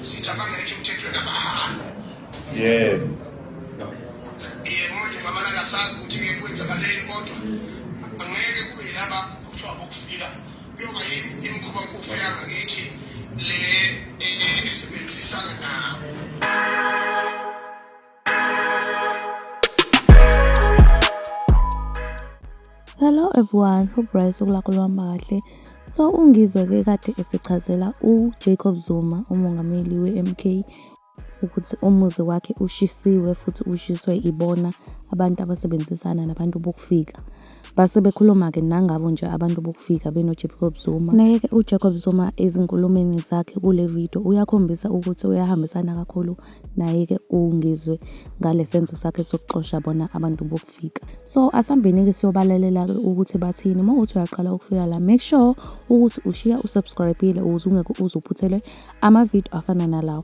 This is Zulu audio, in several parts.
sithi abangekho emthethweni abahambe yebo yebo manje ngamana kasazi ukuthi ngeke kwenzakaleni kodwa angeke kube yilaba kuthiwa bokufika kuyoba imikhuba mpofu yangakithi le esebenzisana nabo Hello everyone, hope Bryce ukulakho luhamba kahle. So ungizwe ke kade esichazela uJacob Zuma umongameli weMK ukuthi umuzi wakhe ushisiwe futhi ushiswe ibona abantu abasebenzisana nabantu bokufika. Base bekhuluma-ke nangabo nje abantu bokufika benoJacob Zuma. Naye-ke uJacob Zuma ezinkulumeni zakhe kule video uyakhombisa ukuthi uyahambisana kakhulu naye-ke uNgizwe ngale senzo sakhe sokuxosha bona abantu bokufika. So asambeni-ke siyobalalela-ke ukuthi bathini. Uma uthi uyaqala ukufika la make sure ukuthi ushiya usubscribe-ile ukuze ungeke uze uphuthelwe amavideo afana nalawo.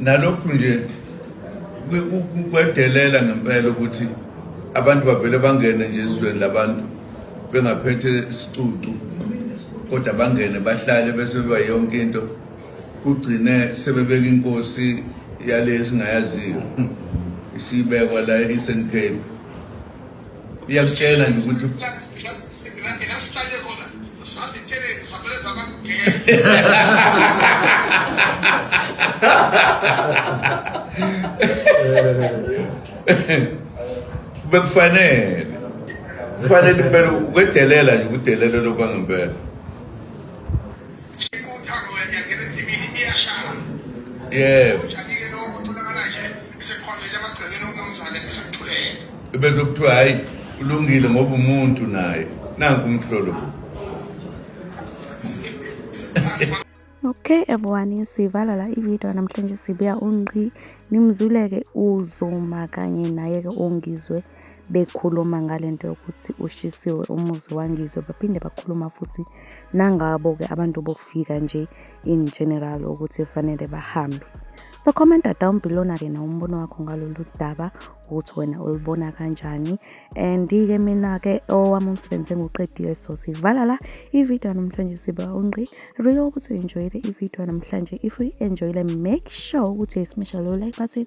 nalokhu nje kwedelela ngempela ukuthi abantu bavele bangene nje ezweni labantu bengaphethe isicucu kodwa bangene bahlale bese beba yonke into kugcine sebebeka inkosi yale esingayaziyo isibekwa la e-eastern cape uyazitshela nje ukuthi bekufanele kufanele impela ukwedelela nje ukudelela lokwangempela yebo Sikhonjele emagcekeni umnumzane bese kuthulele. Bese kuthiwa hayi ulungile ngoba umuntu naye nanku umhlolo. Okay everyone sivala la ivideo namhlanje sibuya unqi nimzuleke uzoma kanye naye ke ongizwe bekhuluma ngale nto yokuthi ushisiwe umuzi wangizwe baphinde bakhuluma futhi nangabo-ke abantu bokufika nje in general ukuthi fanele bahambe so commenta down below-na-ke na umbono wakho ngalolu daba ukuthi wena ulibona kanjani and-ke mina-ke owami umsebenzi engiwuqedile so sivala la ividiyo yanamhlanje siba ungqi really ukuthi uyi-enjoyile ividiyo yanamhlanje if uyi-enjoyile make sure ukuthi uyisimesha lo like button